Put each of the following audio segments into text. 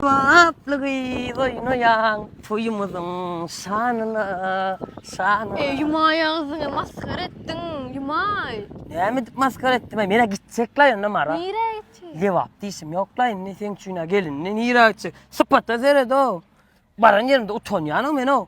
Batly gyz oýnaýaň toýumyzyň şanyna, şanyna. Eý Jumaý agzyňy masgara etdiň Jumaý. Näme edip masgara etdim-ä men-ä gitjek-laý onda Mara. Nirä gitjek? Lebap diýşim ýok-laý indi seň üçin-ä gelindi nirä gitjek sypata seret-ow. Baran ýerimde utanýan-ow men-ow.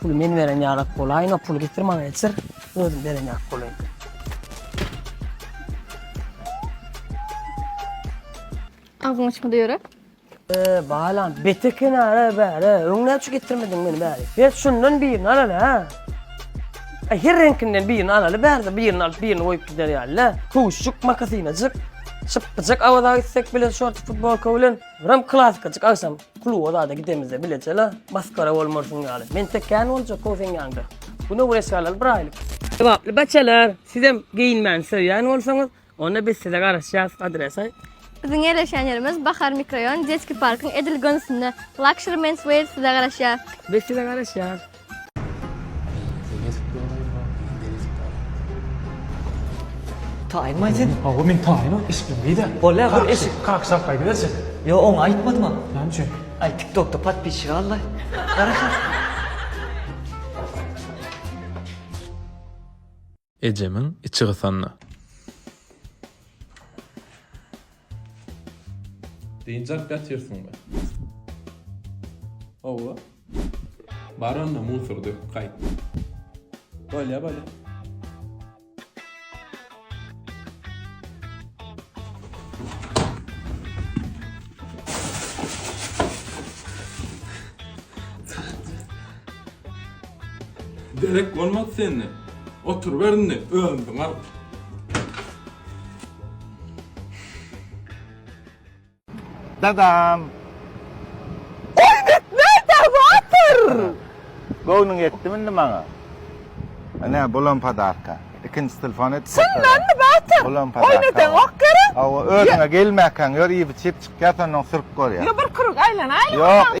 Puly men beren ýarak bolaýyn, o puly getir maňa geçir, özüm beren ýarak bolaýyn. Agzyň açyk ýörek. Ee, balam, beteken ara bäre, öňne şu getirmedin meni bäri. Her şundan birini alaly ha. Ay, her renkinden birini alaly bärde, birini alyp birini koyup gider yani la. Kuşçuk, makasinacık, şıppıcık avada gitsek bile şort futbolka bilen. Biram klassykajyk agşam kluba zada gidemizde bilecela maskara bolmarsyň ýaly. Men tek kän boljak o seň ýanyňda. Güne bir eşgalaly bir aýlyk. Sogaply baçalar, sizem geýinmäni söýýän bolsaňyz, onda biz size garaşýas, adresaý. Biziň ýerleşýän ýerimiz Bahar mikroýon, Detski parkyň edil gönsünde. Luxury Menswear size garaşýar. Biz size garaşýas. Taýyn baý sen. Hawa men taýynam eşitdim beýdä. Bolýa bir eşit. Kak sap gaýdyberse. Ýo oňa aýtmadym ha. Näme üçin? Aý tiktokda podpisçik al laý. Garaşas. Ejemiň içi gysanda. Dynç alyp ýatyrsyňmy? Hawa. Bar onda musor döküp gaýt. Bolýar, bolýar. Derek bolmaz senden. Oturyber indi, özüňiziň alyp. Dadam! Oýnat nädä watyr? Göwnüň ýetdimi indi maňa? Ine, bulam podarka. Ikinji telefon edip goýsana. Çyndanmy watyr? Bulam podarka. Oýnadaňok gerek? Hawa, özüňe gelmäkäň ýör iýip-içip çykýar, sondan sürüp görýär. Ýa bir kürek aýlanaýlyň ondan. Ýok.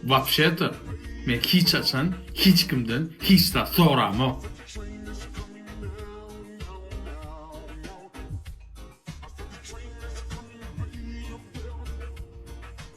Wapşe-de, men hiç haçan hiç kimden hiç zat soramok.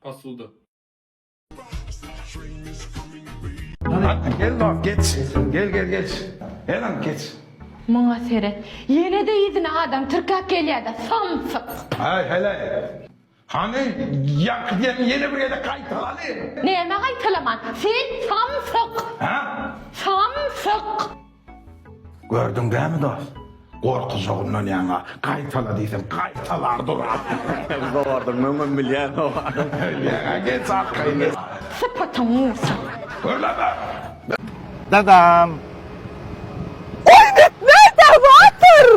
Posuda. Hatda gel bak geç gel gel geç her an keç. Muňa seret. Ýene-de yzyna adam tirkäp gelýärde, samsyk. Aý heleý. Hany, ýaňky diýeniňi ýene bir gezek gaýtala hany! Nämä gaýtalaman? Sen samsyk! Hä? Samsyk! Gördüň dämi dost? Gorkuzogyndan ýaňa gaýtala diýsem gaýtalar duran. Zowardym, möňem bilýän oba. Ýaňa geç arkaýyn geç. Sypatyň ursun! Gürleme! Dadam! Goý gitme, dawadyr!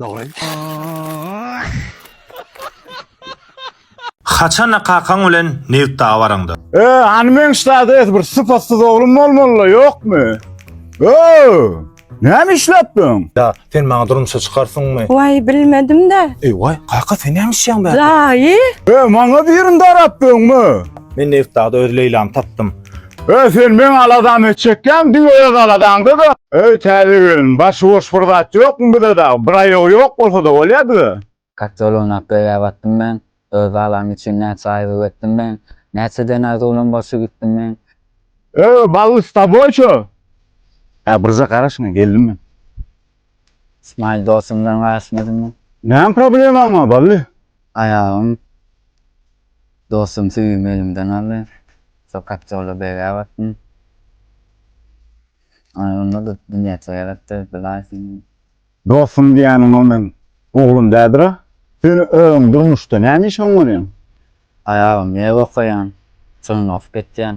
Dogry. Haçanda kakaň bilen nebit daga baraňda. Ö, hany meň ştada et bir sypatsyz oglum bolmalyla ýokmy? Ö, näme işläpdiň? Da, sen maňa durmuşa çykarsyňmy? Waý bilmedim-de. Eý, waý, kaka sen näme işýäň be? Daýy. Ö, maňa birini darap döňme. Men nebit dagda öz Leýlamy tapdym. Öý sen meň aladamy çekýäň diňe öz aladaňda-da. Öý täze gelin başy boş bir zat ýokmy bize dagy bir aýagy ýok bolsada bolýa bize. Gaty ulunak göýä batdym men, öz balam üçin näçe aýgyk etdim men, näçe dene zulum bolşy gitdim men. Öý bally s taboý ço. Hä birje gara şuna geldim men. Smile dosumdan gaýyşmadym men. Näme problemaň bar bally? Aýagym dostum süýümi elimden aldy. Şol kotjolda begäp atdym. Aý, onda-da dünýäçe gerekdi, bilaýsyň. Dostum diýýäniň o meň oglum dädir-a. Sen özüň durmuşda näme iş oňarýaň? Aýagym ýew okaýan, çyňňagyp geçýän.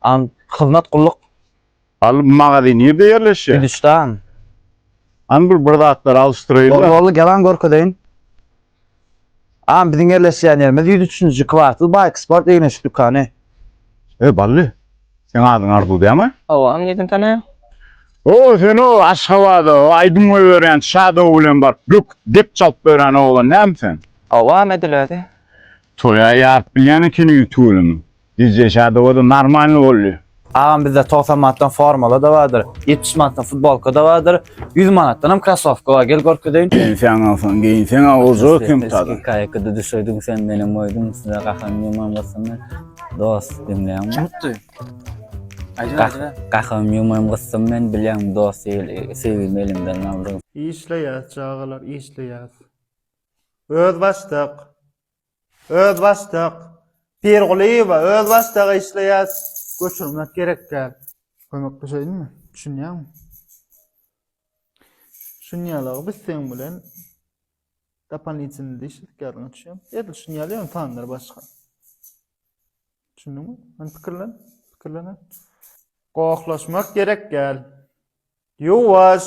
An, hyzmat gulluk. Al, magazin nirde ýerleşýär? Gülüşdan. An, bir bir zatlar alyşdyraýyň. Boldy, boldy, gel-aň görkezeýin. An, biziň ýerleşýän ýerimiz ýüz üçünji kwartal Baýk sport egin-eşik dükany. E, Bally, seň adyň Arzuw dälmi? Hawa, aň nirden tanaýaň? O, sen o, Aşgabada aýdym goýberýän Shadow bilen baryp böküp dep çalyp ýören oglan dälmi sen? Hawa, Medil özi. Toýa ýaryp bilýän ekeniň tüweleme. Dj Şadowa-da normalny boldy. Agam bizde togsan manatdan formala-da bardyr, ýetmiş manatdan futbolka-da bardyr, ýüz manatdanam krasowka bar, gel görkezeýin. Pensiýaň alsaň geýinseň-ä oža kim tazyň. Kaýkada düşürdin sen meni moýdum size gahym ýuman gysymy dos diňleýäňmi. Kim utdy? Aýdyber aýdyber. Gahym ýuman gysym men bilýäňmi dos söýgimi elimden aldyň. Işleýäs çagalar işleýäs. Özbaşdak. Özbaşdak. Pirgulyýewa, özbaşdak işleýär. Göçürmek gerek däl. Kömek düşeýinmi? Düşünýäňmi? Düşünýärler, biz seň bilen dopolitini işledik ýadyňa düşýär. Edil düşünýärler, ýöne sanlar başga. Düşündiňmi? Hany pikirlen, pikirlen. Gohlaşmak gerek däl. Ýuwaş.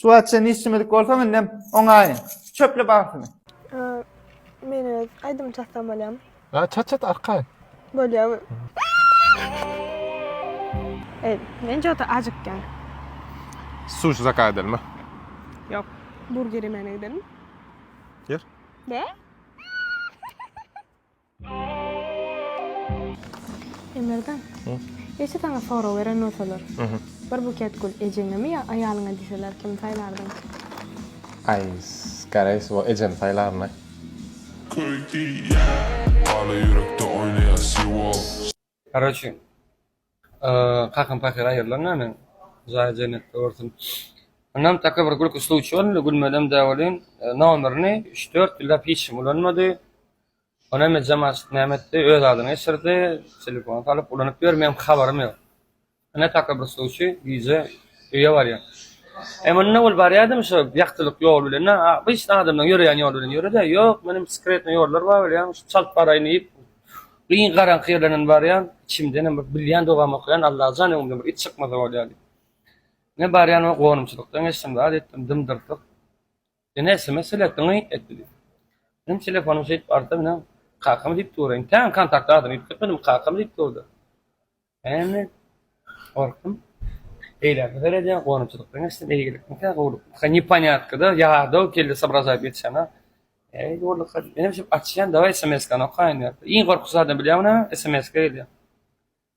Şu wagt çenli işlemedik bolsaň indem oňaýyn. Çöple bagtyny. Men öz aýdym çatsam bolýamy? Ýa çat çat arkaýyn. Bolýamy? Ey, men jota ajykýan. Sushi zakaz edelmi? Ýok, burger ýemegine gidelim. Ýer. Be? Emirden. Eje saňa sorag beren bolsalar. Bir buket gül ejeňemi ýa aýalyňa diýseler kimi saýlardyň? Aý garaýs o ejemi saýlaryn-aý. Köýdi ýa. Ala ýürekde oýnaýar siwol. Garoçe kakam pahyr aýyrlan da men jaýy jennetde görsün. Onam taka bir gülki sluçiý boldy, gülmelem däl welin nomerini üç dört ýyllap hiç kim ulanmady. Onam ejemazçyk näme etdi öz adyna geçirdi, telefon salyp ulanyp ýör meň habarym ýok. Ine takabbursluçy gije öýe barýar. E munda ol barýadamy şo ýagtylyk ýol bilen, na abyşda adamlaň ýöreýän ýoly bilen ýöre-dä, ýok men hem skretny ýollar bar bilýäň, şu çalt baraýyn diýip giň garaňky ýerlerden barýan, içimdenem bir bilýän dogamy okaýan, Allajan öňümden bir it çykmasa bolýa diýip. Ine barýan we gonumçylykdan geçdim zat etdim, dym-dyrtyk. Ine sms eltdi, ňyýt etdi diýip. Menem telefonym şeýdip arta bilen kakam diýip dur, entägem kontakt adyny ýüztük etmedim, kakam diýip durdy. Näme? Gorkdum. Eýläk seredýär, gonamçylykdan geçsin, eýgilikmikä, gowulykmyka, neponýatka-da, ýadaw geldi sobražaýyp ýetişene. Äý, gowulyka, menem şeýdip açýan, daway SMS-kany okaýyn diýip. Iň gorkusy zadam bilýäňmi näme? SMS-ka gelýär.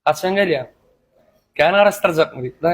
Haçan gelýär? Kän garaşdyrjakmy diýip-le.